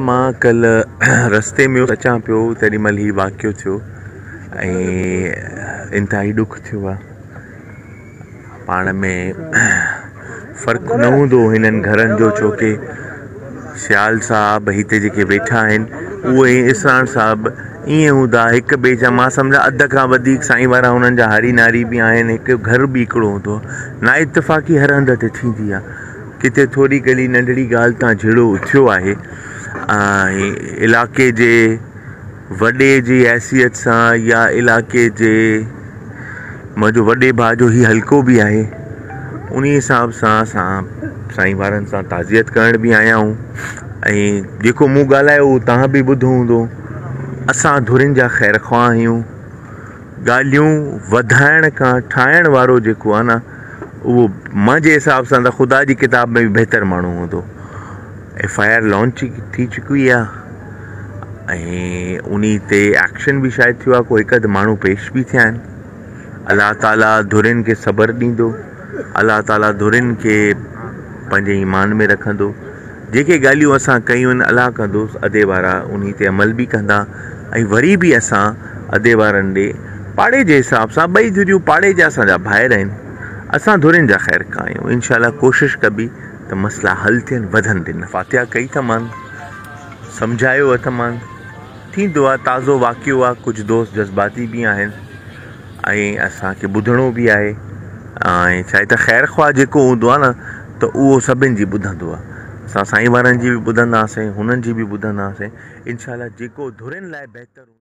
مان ڪلهه رستي ۾ اچان پيو تيڏي مهل هي واقعو ٿيو ۽ انتهائي ڏک ٿيو آهي پاڻ ۾ فرق نه هوندو هنن گهرن جو ڇو ڪي سيال صاحب هتي جيڪي ويٺا آهن اهي اسراڻ صاحب ائين هوندا هڪ ٻئي جا مان سمجهان اڌ کان وڌيڪ سائين وارا هنن جا هاري ناري به آهن هڪ گهر به هڪڙو هوندو نا اتفاقي هر هنڌ تي ٿيندي آهي ڪٿي ٿوري ڪھڙي ننڍڙي ڳالهه تان جھيڙو اٿيو آهي ۽ علاقي جي وڏي جي حيثيت سان يا علاقي جي منهنجو وڏي ڀاء جو هي حلقو بي آهي انهي حساب سان اسان سائين وارن سان تعزيت ڪرڻ بي آيا آهيون ۽ جيڪو مون ڳالهايو هو تهان بي ٻڌو هوندو اسان ڌرين جا خير خواهه آهيون ڳالهيون وڌائڻ کان ٺاهڻ وارو جيڪو آهي نه اهو منهنجي حساب سان ته خدا جي ڪتاب ۾ به بهتر ماڻهو هوندو. ايف آء آر لانچ ٿي چڪي آهي ۽ انهي تي ايڪشن به شايد ٿيو آهي ڪو هڪ اڌ ماڻهو پيش به ٿيا آهن. الله تعالي ڌرين کي صبر ڏيندو. الله تعالي ڌرين کي پنهنجي ايمان ۾ رکندو. جيڪي ڳالهيون اسان ڪيون الله ڪندو ادي وارا انهي تي عمل به ڪندا ۽ وري به اسان ادي وارن ڏي پاڙي جي حساب سان ٻئي ڌريون پاڙي جا اسان جا ڀائر آهن اسان ڌرين جا خير خواهه آهيون انشاء الله ڪوشش ڪبي ته مسئلا حل ٿين وڌن به نه. فاتحه ڪئي ته مان سمجهايو اٿ مان ٿيندو آ تازو واقعو آ ڪجهه دوست جذباتي به آهن. ۽ اسان کي ٻڌڻو به آهي ۽ ڇا هي ته خير خواهه جيڪو هوندو آهي نه ته اهو سڀن جي ٻڌندو آهي اسان سائين وارن جي به ٻڌنداسين هنن جي به ٻڌنداسين انشاء الله جيڪو ڌرين لاء بهتر